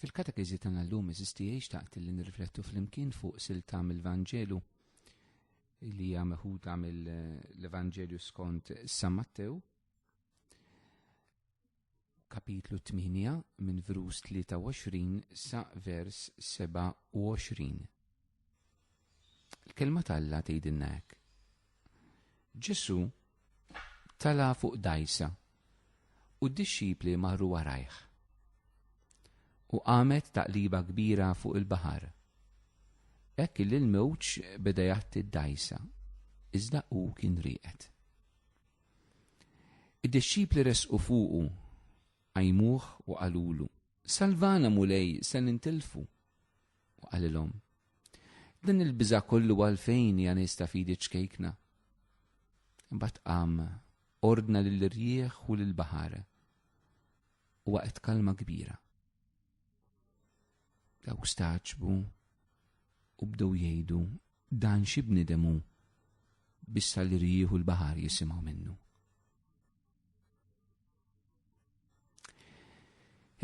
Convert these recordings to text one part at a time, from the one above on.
Fil-katekiżi tagħna llum eżisti xtaqt li nirriflettu flimkien fuq silta mill-Vanġelu li hija meħuda mill-Evanġelju skont San Mattew kapitlu 8 minn verus 23 sa vers 27. Il-kelma tal-la tgħidilna hekk. Ġesu tala fuq dajsa u d-dixxipli marru warajh. U qamet taqliba kbira fuq il-baħar. Hekk li l-mewġ beda jatti d-dajsa, iżda hu kien rieqed. Id-dixxipli resqu fuqu, għajmuh u qalulu, Salvana mulej se nintilfu. U qalilhom, din il-biża kollu għalfejn hija nies ta' fidi ċkejkna. Imbagħad qam ordna lill-irjieħ u lill-baħar u waqgħet kalma kbira. Dawk staċbu u bdew jgħidu dan xi bnidemu bissa l-irjieħ u l-baħar jisimgħu minnu.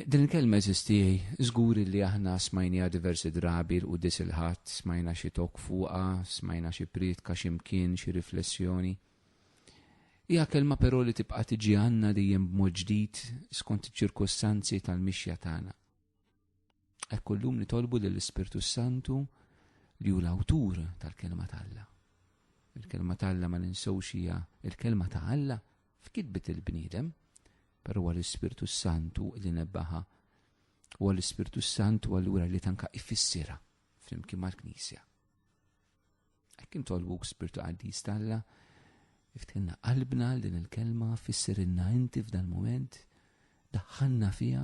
Din il-kelma eżisti żgur li aħna smajnija diversi drabi l qudis il-ħadd, smajna xi tok fuqha, smajna xi prietka x'imkien, xi riflessjoni. Hija kelma però li tibqa' tiġi għandna dejjem b'mod ġdid skont iċ-ċirkostanzi tal-mixja tagħna. Ekku llum nitolbu lill-Ispirtu Santu li hu l-awtur tal-kelma ta' Alla. Il-kelma ta' Alla ma ninsewx hija il-kelma ta' Alla f'kitbet il-bniedem, però huwa l-Ispirtu Santu li nebbaħa. Huwa l-Ispirtu Santu allura li tanka ifissira flimkien mal-Knisja. Hekk intolbuk Spirtu Qaddis ta' Alla, iftinna qalbna din il-kelma, fissirinna inti f'dan moment, daħħanna fija,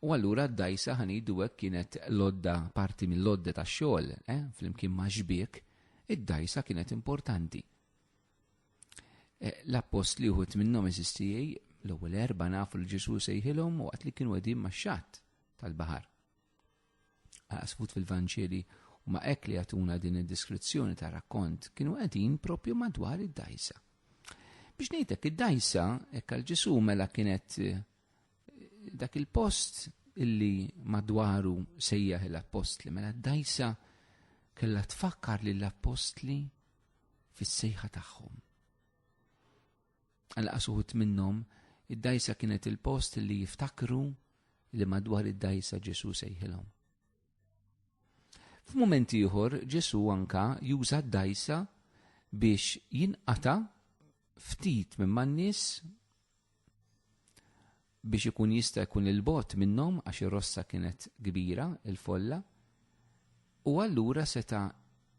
U allura d-dgħajsa ħa ngħidu hekk kienet l-għodda parti mill-għodda tax-xogħol, eh, flimkien ma' xbiek, id-dgħajsa kienet importanti. Eh, L-appost li uħut minnhom eżistijaj, l-ewwel erba nafu li Ġesu sejħilhom waqt li kienu qegħdin max-xatt tal-baħar. Għasfut fil-Vanġeli u ma' hekk li jagħtuna din id-deskrizzjoni ta' rakkont kienu qegħdin propju madwar id-dgħajsa. Biex ngħidlek id-dgħajsa hekk għal Ġesu mela kienet eh, Dak il-post illi madwaru sejjaħ l-appostli, mela d-dajsa kella tfakkar li l-appostli fis-sejħa tagħhom. Għal qasuħut minnhom, id-dajsa kienet il-post li jiftakru li madwar id-dajsa Ġesu sejħilhom. F'mument ieħor Ġesu anka juża d-dajsa biex jinqata ftit minn man-nies biex ikun jista' jkun il-bot minnhom għax ir-rossa kienet kbira il-folla u allura seta'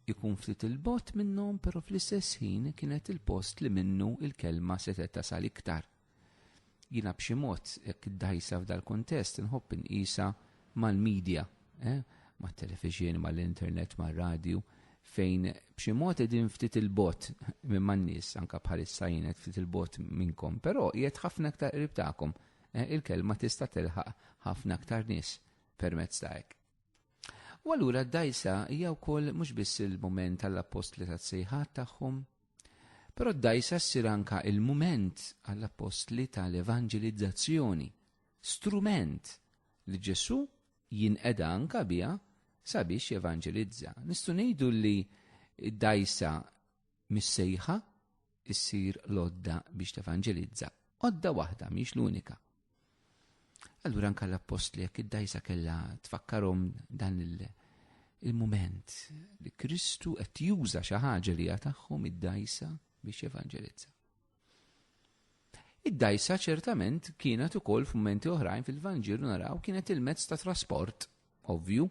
jkun ftit il-bot minnhom però fl-istess ħin kienet il-post li minnu il-kelma setgħet tasal iktar. Jiena b'xi mod jekk iddajsa f'dal-kuntest inħobb inqisha mal-medja eh, ma' televizjoni, ma' l-internet, ma' radio, fejn b'xi mod edin ftit il-bot minn man nies anka bħalissa jienet ftit il-bot minnkom, però jiet ħafna aktar qrib tagħkom. Eh, il-kelma tista' tilħaq ħafna aktar nies permezz ta' hekk. U allura d-dajsa hija wkoll mhux biss il-mument għall-appostli tas-sejħat tagħhom, però d-dajsa ssir anka il-mument għall-appostli tal-evanġelizzazzjoni, strument li Ġesu jinqeda anka biha sabiex jevanġelizza. Nistgħu ngħidu li d-dajsa missejħa issir lodda biex tevanġelizza. Odda waħda mhix l-unika. Allura anka l-appostli jekk id-dajsa kellha tfakkarhom dan il-mument li Kristu qed juża xi ħaġa li tagħhom id-dajsa biex jevanġelizza. Id-dgħajsa ċertament kienet ukoll f'mumenti oħrajn fil-Vanġelu naraw kienet il-mezz ta' trasport ovvju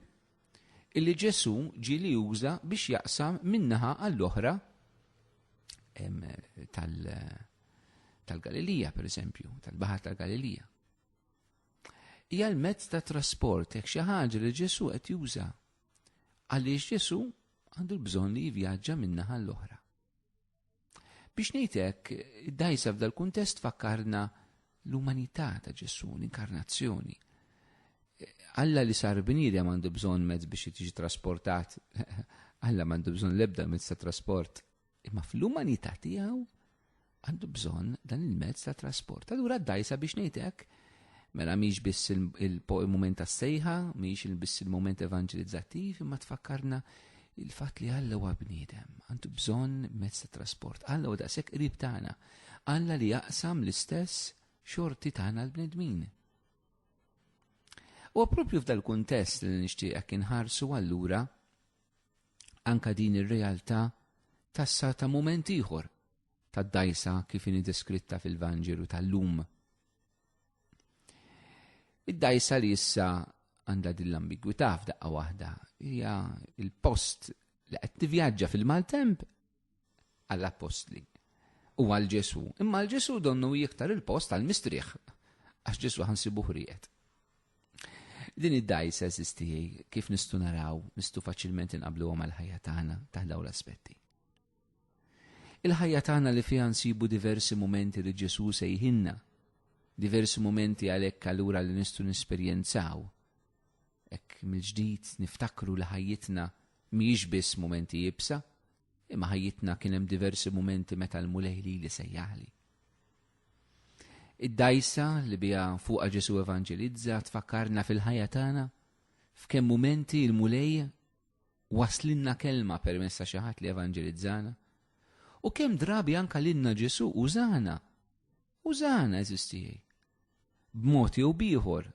illi Ġesù ġie li juża biex jaqsam min-naħa għall-oħra tal-Galilija, per eżempju, tal-Baħar tal-Galilija. Hija l-mezz ta' trasport jekk xi ħaġa li Ġesù qed juża għaliex Ġesù għandu l-bżonn li jivvjaġġa min-naħa l-oħra. Biex ngħidlek, id-dajsa f'dal kuntest fakkarna l-umanità ta' Ġesu, l-inkarnazzjoni. Alla li sar bniedem għandu bżonn mezz biex jiġi trasportat, Alla m'għandu bżonn l-ebda mezz ta' trasport, imma fl-umanità tiegħu għandu bżonn dan il-mezz ta' trasport. Allura d-dajsa biex ngħidlek Mela mhix biss il-moment tas-sejħa, mhix biss il-moment evanġelizzattiv, imma tfakkarna il-fatt li Alla huwa bniedem, għandu bżonn mezz ta' trasport. Alla huwa daqshekk qrib tagħna. Alla li jaqsam l-istess xorti tagħna l-bnedmin. U propju f'dal kuntest li nixtieqek inħarsu allura anka din ir-realtà tas-sa ta' mument ieħor tad-dgħajsa kif inhi deskritta fil-Vanġelu tal-lum. Id-dgħajsa li issa għandha din l-ambigwità f'daqqa waħda hija il-post li qed tivvjaġġa fil-maltemp għall-appostli u għal Ġesu. Imma l-Ġesu donnu jiktar il-post għal mistrieħ għax Ġesu ħansibu ħrijet. Din id-dajsa eżisti kif nistu naraw, nistu faċilment inqablu għom għal-ħajja tagħna taħdaw l-aspetti. Il-ħajja tagħna li fiha nsibu diversi mumenti li Ġesù sejħinna, diversi mumenti għalhekk allura li nistgħu nesperjenzaw. Hekk mill-ġdid niftakru li ħajjitna mhijiex biss mumenti ibsa, imma ħajjitna kien hemm diversi mumenti meta l-mulej li li sejjaħli. Id-dajsa li biha fuqa Ġesu evanġelizza tfakkarna fil-ħajja tagħna f'kemm mumenti l-mulej waslilna kelma permezz ta' xi ħadd li evanġelizzana. U kemm drabi anka lilna Ġesu użana. Użana eżistijaj. B'mod jew bieħor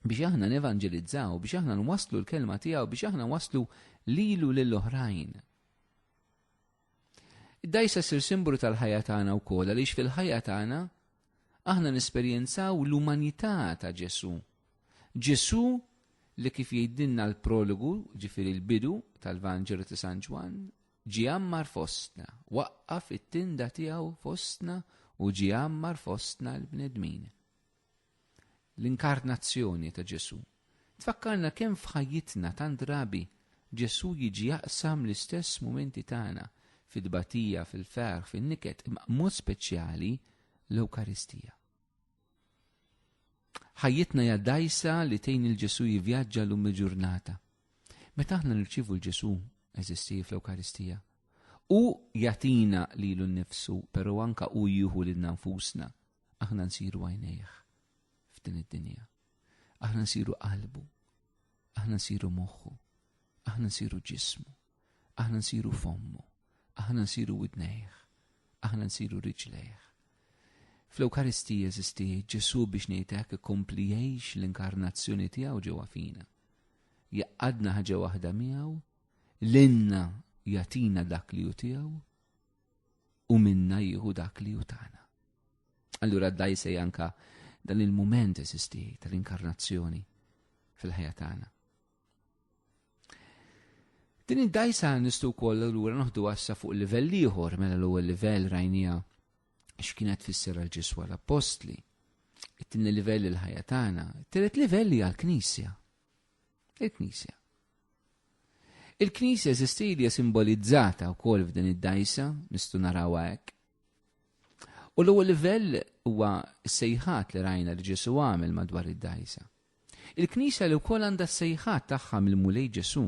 biex aħna nevanġelizzaw, biex aħna nwaslu l-kelma tiegħu, biex aħna waslu lilu lill-oħrajn. Id-dgħajsa ssir simbolu tal-ħajja tagħna wkoll għaliex fil-ħajja tagħna aħna nesperjenzaw l-umanità ta' Ġesu. Ġesu li kif jgħidilna l-prologu, ġifieri l-bidu tal-Vanġelu ta' San Ġwann, ġie għammar fostna, waqqaf it-tinda tiegħu fostna u ġie għammar fostna l-bnedmin. L-inkarnazzjoni ta' Ġesù tfakkarna kemm f'ħajjitna tant drabi Ġesù jiġi jaqsam l-istess mumenti tagħna, fit-tbatija, fil-ferħ, fin-niket, imma b'mod speċjali l-Ewkaristija. Ħajjitna hija dgħajsa li tgħin il Ġesù jivvjaġġa lum il-ġurnata. Meta aħna nirċievu l-Ġesù eżisti fl-Ewkaristija, u jatina lilu nnifsu, pero anka u jieħu lilna nfusna Aħna nsiru għajnejh f'din id-dinja. Aħna nsiru qalbu. Aħna nsiru moħħu. Aħna nsiru ġismu. Aħna nsiru fommu. Aħna nsiru widnejh. Aħna nsiru riġlejh. Fl-Ewkaristija jeżisti Ġesu biex ngħidlek ikompli jgħix l-inkarnazzjoni tiegħu ġewwa fina. Jaqadna ħaġa waħda miegħu, l-inna jatina dak li ju tiegħu u minna jieħu dak li hu tagħna. Allura d-daj se janka dan il-mument esisti tal-inkarnazzjoni fil-ħajja tagħna. Din id-dajsa nistu wkoll allura noħdu għassa fuq livell ieħor mela l-ewwel livell rajnija x'kienet fisser għal ġiswa l-appostli. It-tieni livell il-ħajja tagħna, it-tielet livell hija l-Knisja. Il-Knisja. Il-Knisja eżistilja simbolizzata wkoll f'din id-dajsa, nistu narawha hekk. U l-ewwel livell huwa s-sejħat li rajna li Ġesu għamel madwar id-dajsa. Il-Knisja li wkoll għandha s-sejħat tagħha mill-Mulej Ġesu.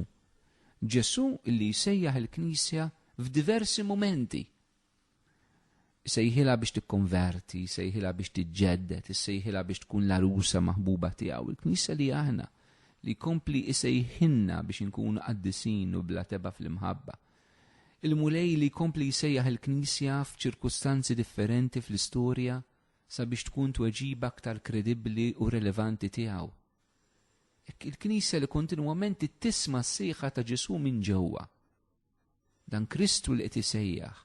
Ġesu li jsejjaħ il-Knisja f'diversi mumenti Isejħilha biex tikkonverti, isejħilha biex tiġġedded, isejħilha biex tkun l-għarusa maħbuba tiegħu. Il-Knisja li aħna li jkompli isejħinna biex inkunu qaddisin u bla teba fl-imħabba. Il-Mulej li jkompli jsejjaħ il-Knisja f'ċirkustanzi differenti fl-istorja sabiex tkun tweġiba aktar kredibbli u relevanti tiegħu. Il-Knisja li kontinwament tisma' s-sejħa ta' Ġesu minn ġewwa Dan Kristu li qed isejjaħ.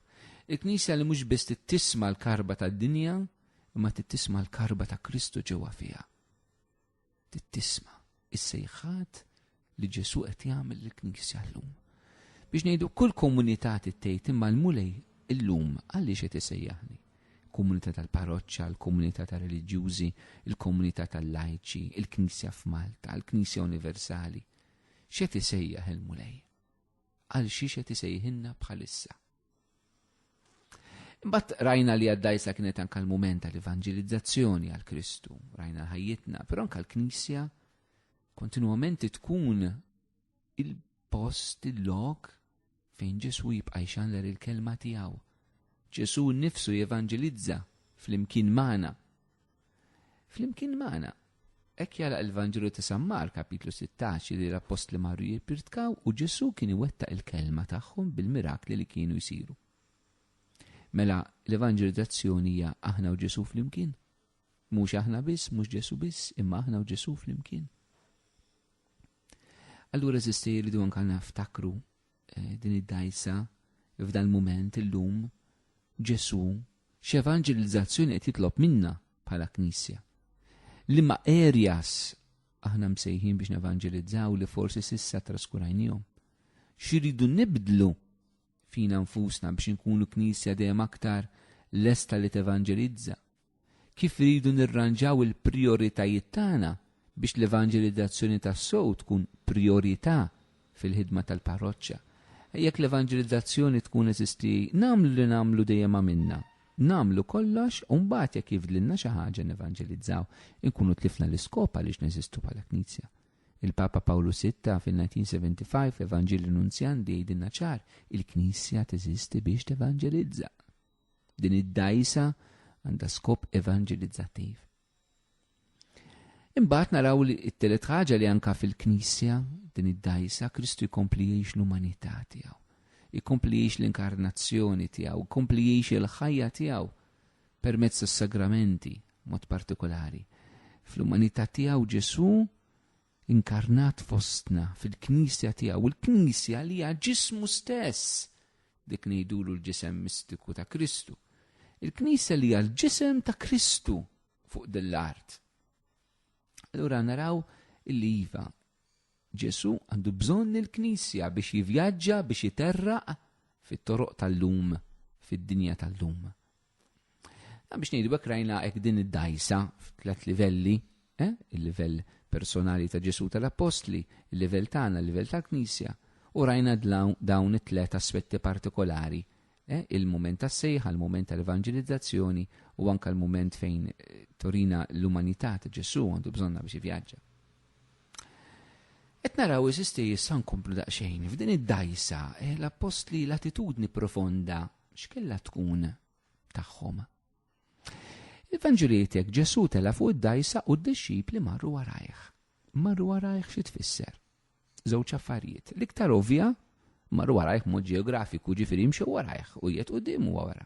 Il-Knisja li mhux biss tittisma l-karba tad-dinja, imma tittisma l-karba ta' Kristu ġewwa fiha. Tittisma is-sejħat li Ġesu qed jagħmel lill-Knisja llum. Biex ngħidu kull komunità tittejt imma l-mulej illum għaliex qed isejjaħni komunità tal-parroċċa, l-komunità tal-reliġjużi, il-komunità tal-lajċi, il-Knisja f'Malta, il-Knisja Universali. X'qed isejjaħ il-Mulej? għal xiex qed isejħinna bħalissa. Imbatt rajna li għaddajsa kienet anka l-mument tal-evangelizzazzjoni għal Kristu, rajna ħajjitna, però anka l-Knisja kontinuament tkun il-post, il-lok fejn Ġesu jibqa' jxanler il-kelma tiegħu. Ġesu nifsu jevangelizza fl-imkien magħna Flimkien magħna, hekk jara l-Vanġelu ta' San Mark kapitlu 16 li l-appostli marru jippirtkaw u Ġesu kien iwettaq il-kelma tagħhom bil-mirakli li kienu jsiru. Mela l-evanġelizzazzjoni hija aħna u Ġesu flimkien. Mhux aħna biss, mhux Ġesu biss, imma aħna u Ġesu flimkien. Allura eżisti jridu anka naftakru Eh, din id-dajsa f'dan mument illum Ġesu x'evanġelizzazzjoni qed jitlob minna bħala Knisja. Li ma erjas aħna msejħin biex nevanġelizzaw li forsi sissa traskurajnijom. Xiridu nibdlu fina nfusna biex nkunu Knisja dejjem aktar lesta li tevanġelizza kif iridu nirranġaw il-prijoritajiet tagħna biex l-evanġelizzazzjoni tassew tkun prijorità fil-ħidma tal-parroċċa. Jekk l-evanġelizzazzjoni tkun eżisti, nagħmlu li nagħmlu dejjem għamilna. Nagħmlu kollox u mbagħad jekk jifdlilna xi ħaġa nevanġelizzaw, inkunu tlifna l-iskop għaliex neżistu bħala Knisja. Il-Papa Pawlu VI fil-1975 fl-Evanġelju Nunzjan li jgħidilna ċar, il-Knisja teżisti biex tevanġelizza. Din id-dajsa għandha skop evanġelizzattiv. Imbagħad naraw li t-telet ħaġa li anka fil-Knisja din id-dajsa Kristu jkompli jgħix l-umanità tiegħu. Jkompli jgħix l-inkarnazzjoni tiegħu, jkompli jgħix il-ħajja tiegħu permezz tas-sagramenti mod partikolari. Fl-umanità tiegħu Ġesu inkarnat fostna fil-Knisja tiegħu, il-Knisja li hija ġismu stess, dik ngħidulu l-ġisem mistiku ta' Kristu. Il-Knisja li hija l-ġisem ta' Kristu fuq din l-art. Allura naraw illi iva Ġesu għandu bżonn il-Knisja biex jivjaġġa biex jiterraq fit-toroq tal-lum, fid-dinja tal-lum. Biex ngħidu hekk rajna hekk din id-dajsa f'tlet livelli, eh? il-livell personali ta' Ġesu tal-Appostli, il-livell tagħna, il-livell tal-Knisja, u rajna dawn it-tlet aspetti partikolari eh? il-moment tas sejħa il-moment tal-evangelizzazzjoni u anka l-moment fejn eh, torina l-umanità ta' Ġesu għandu bżonna biex ivjaġġa. Et naraw iżisti jissan komplu daqxejn, f'din id-dajsa, eh, l-appostli l-attitudni profonda X'kella tkun tagħhom? Il-Vanġelietek Ġesu tela fuq id-dajsa u d-dixxipli marru warajh. Marru warajh xi tfisser? Żewġ affarijiet. L-iktar ovvja marru warajh mod ġeografiku ġifieri mxew warajh u jiet qudiem huwa wara.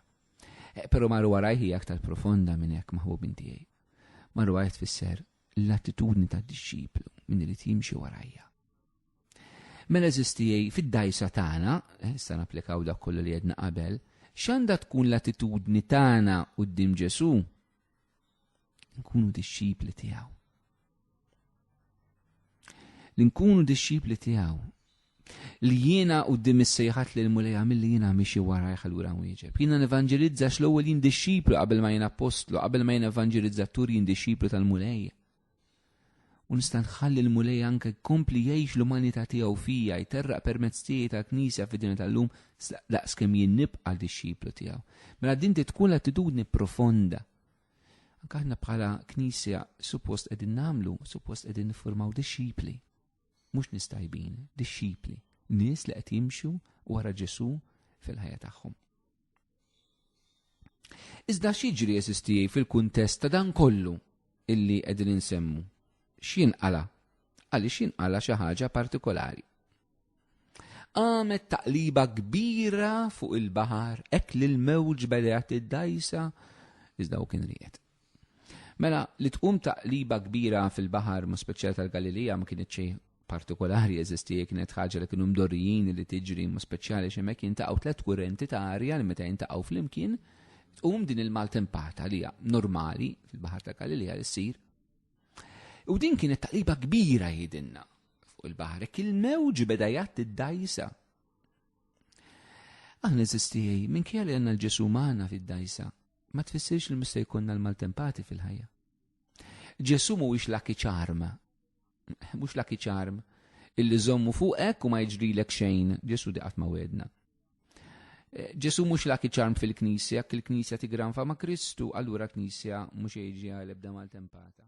Eh, però marru warajh hija aktar profonda minn hekk maħbub tiegħi. Marru warajh tfisser l-attitudni tad-dixxiplu minn irid jimxi warajja. Mela eżistijaj fid-dajsa tagħna, eh, issa napplikaw dak kollu li jedna qabel, x'għandha tkun l-attitudni tagħna quddiem Ġesu? Nkunu dixxipli tiegħu. Li nkunu dixxipli tiegħu li jiena u dim is-sejħat li l-mulej għamil li jiena miexi wara jħallura wieġeb. Jiena nevanġelizza l ewwel jien dixxiplu qabel ma jiena apostlu, qabel ma jiena evanġelizzatur jien dixxiplu tal-mulej. u nista' nħalli l-Mulej anke jkompli jgħix l-umanità tiegħu fija jterraq permezz tiegħi tal-Knisja fid-dinja tal-lum daqs kemm jien nibqa' dixxiplu tiegħu. Mela din tkun l-attitudni profonda. Anke aħna bħala Knisja suppost qegħdin nagħmlu, suppost qegħdin niffurmaw dixxipli. Mhux nistajbin, dixxipli. Nies li qed jimxu wara Ġesu fil-ħajja tagħhom. Iżda x'jiġri eżistijaj fil-kuntest ta' dan kollu illi qegħdin insemmu? X'jinqala? Għaliex jinqala xi ħaġa partikolari? Għamet taqliba kbira fuq il-baħar hekk li l-mewġ bedgħet id-dajsa iżda u kien ried. Mela, li tqum taqliba kbira fil-baħar, mod speċjali tal-Galilija, ma kinitx xejn partikolari jeżisti, hija kienet ħaġa li kienu mdorrijin li tiġri, mod speċjali għax hemmhekk jintaqgħu tliet kurrenti ta' arja li meta jintaqgħu flimkien, tqum din il-maltempata li hija normali fil-baħar tal-Galilija li ssir. U din kienet taqliba kbira jidinna fuq il-baħar, hekk il-mewġ beda jgħatti d-dajsa. Aħna eżisti minn kien li għandna l-Ġesu' magħna fid-dajsa. ma tfissirx li mhux se jkollna l-maltempati fil-ħajja. Ġesu mhuwiex laki ċarm. Mhux laki ċarm illi żommu fuqek u ma jiġrilek xejn, Ġesu diqat ma wedna. Eh, Ġesu mhux laki ċarm fil-Knisja, jekk il-Knisja tigranfa ma' Kristu, allura Knisja mhux jiġi għal ebda maltempata.